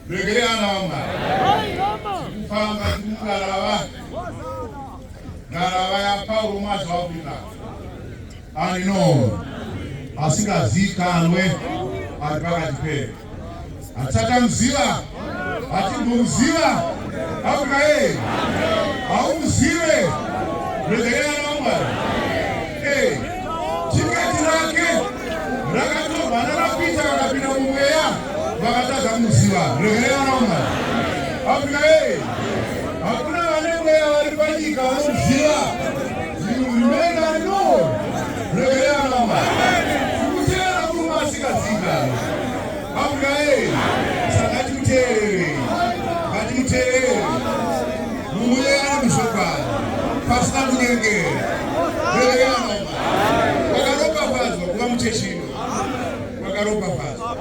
Regereanama. Kufamba kukarava. Ngarava yaPauro mazvakuita. Anino. Asikazikanwe ari pakati pedu. Atakamuziva. Atinomuziva. Afrika yeye. Haumuzive. Regereanama. Hey. Tiketi rake rakatorwa nanaPita vakapinda mumweya vakatadza kumuziva. Regereanaoma Afrika yeye eh! hakuna vane mweya vari panyika vanomuziva. Zvirumenga no regereanaoma kukutera kuruma asikadzigaro Amen. Saka tikuteerere. Ngatikuteerere. Mumuyera mushokwana. Pasina kunyengera. Rerekera mama. Wakaropafadzwa kuva muchechino. Wakaropafadzwa.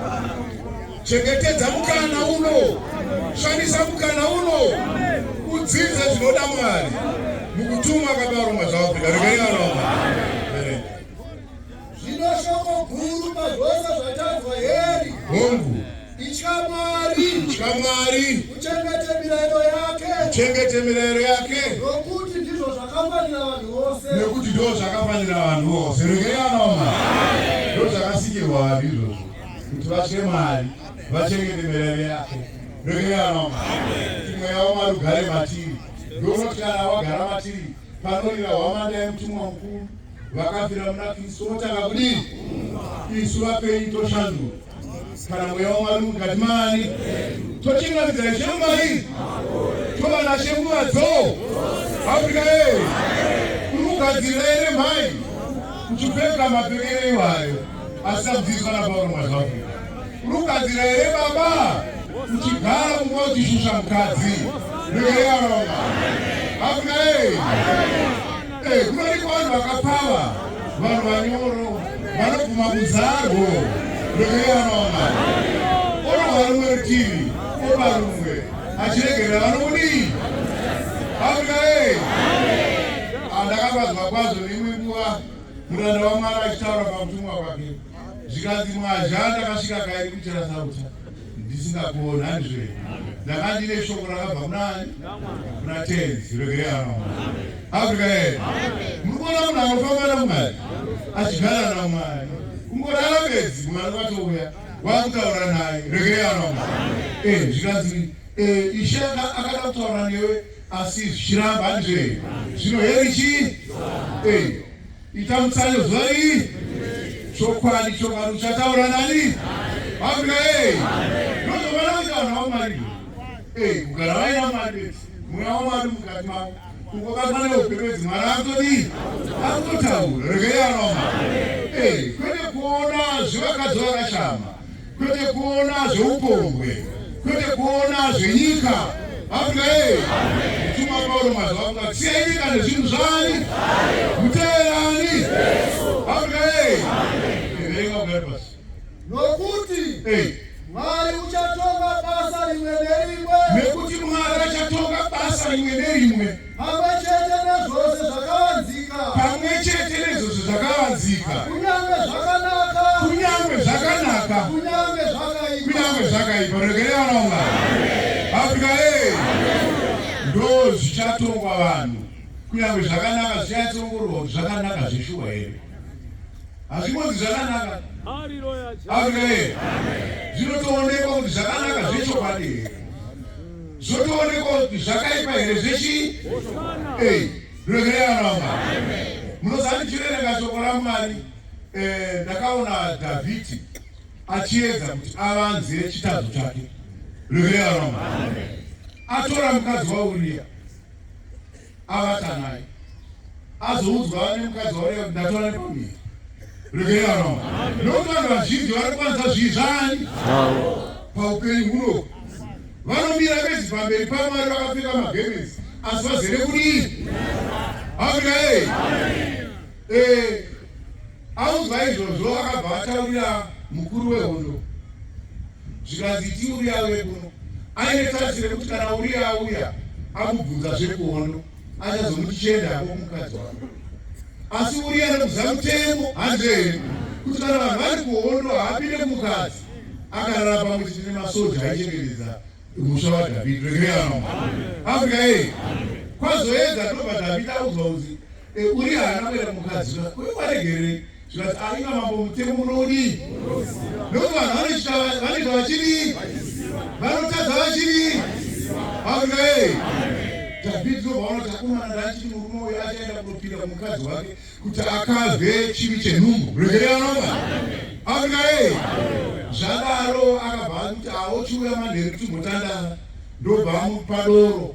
Chengetedza mukana uno. Shandisa mukana uno. Udzidze zvinoda Mwari. Mukutumwa kabarumwa zvawakuda. Rerekera mama. Zvino shoko guru pazvose zvatadzwa heri. Hongu. Itya Mwari. Itya Mwari. Uchengete mirayiro yake. Uchengete mirayiro yake. Nokuti ndizvo zvakafanira vanhu vose. Nekuti ndizvo zvakafanira vanhu vose. Regeranoma. Ndizvo zvakasikirwa vanhu izvozvo. Kuti vatye Mwari. Vachengete mirayiro yake. Regeranoma. Kuti mweya waMwari ugare matiri. Ndokuti kana wagara matiri panorira hwamanda yemutumwa mukuru. vakafira muna kristu votanga kudii isu vapenyu toshanduka kana mweya wamwari mukati mani tochingamidza ishe mumai tova nashe nguva dzoo afrika ee kuri kugadzirira ere mhai kuchipfeka mapfekere iwayo asi takudzidziswa napauro mwazva afrika kuri kugadzirira ere baba kuchigara kunguva uchishusha mukadzi regereaaa afrika ee Eh, kunoiko vanhu vakapfava vanhu vanyoro vanobvuma kuzarwo rwekuyanaona orova rumwe rutivi oba rumwe achiregerera vanokudii afrika e andakafadzwa ah, kwazvo neimwe nguva muranda wamwari achitaura pamutumwa kwake zvikanzi mwazha ndakasvika kairi kuchera sauta ndisingakuona ndizve ndanga ndine shoko rakabva kunani kuna tenzi regerano afrika yee muri kuona munhu anofamba namwari achigara namwari kungorara bedzi kumwana kwatouya wakutaura naye regerano eh, zvikanzi eh, ishe akada kutaura newe asi zvichiramba ndizve zvino heri chii eh, Ita mutsayo zuva iri. Chokwadi chokwadi uchataura nani? Afrika hey. Ndozovana kuti vanhu vaMwari. Hey, kugara vaina Mwari. Mweya waMwari mukati mavo. Ukobatwa neupembedzi Mwari akutodii? Akutotaura. Regai anoma. Hey, kwete kuona zvivakadzi vakashama. kwete kuona zveupombwe kwete kuona zvenyika afrika yeye mtuma paulo mazuva kuda siyai nyika nezvinhu zvani muteerani afrika yeye erenga kugari pasi nokuti mwari uchatonga basa rimwe nerimwe nekuti mwari achatonga basa rimwe nerimwe Pamwe chete nezvose zvakavanzika. Pamwe chete nezvose zvakavanzika. Kunyange zvakanaka. Kunyange zvakanaka. Kunyange zvakaipa. Kunyange zvakaipa. Regerera vana vaMwari. Afrika hey. Ndo zvichatongwa vanhu. Kunyange zvakanaka zvichatsongorwa zvakanaka zveshuwa here. Hazvimbozi zvakanaka. Afrika hey. Zvinotoonekwa kuti zvakanaka zvechokwadi here. zvotoonekwa kuti zvakaipa here zvechi ei revereanama munozandichiverenga shoko ramwari eh, ndakaona dhavhidhi achiedza kuti avanze chitadzo chake revereanama atora mukadzi wauriya avata naye azoudzwa nemukadzi wauya ndatora nepamiri regerano nokuti vanhu vazhinji vari kwanza zvii zvani paupenyu huno vanomira vezi pamberi pamwari vakapfeka magemenzi asi vazere kudii amina e e audzwa izvozvo akabva ataurira mukuru wehondo zvikanzi iti uriya auye kuno aine tazi rekuti kana uriya auya amubvunza zvekuhondo achazomuti chienda hako mukadzi wako asi uriya anobvunza mutemo hanze henyu kuti kana vanhu vari kuhondo haapinde mukadzi akarara pamwe chiti nemasoja aichengetedza musha wadhavhidi regerano afrika ei kwazoedza ndobva dhavhidi audzwa kunzi e, uriya haana kuenda mukadzi uyo waregerei zvikati aiva mambo mutemo munodii nokuti vanhu vanoita vanoita vachidii vanotadza vachidii aungaei dhavhidhi ndovanoti akomana ndachiti murume uyo achaenda kunopinda kumukadzi wake kuti akazwe chivi chenhumbu regereanova aungaei zvadaro akabva akuti aochiuya manheru timbotandana ndobva amupa doro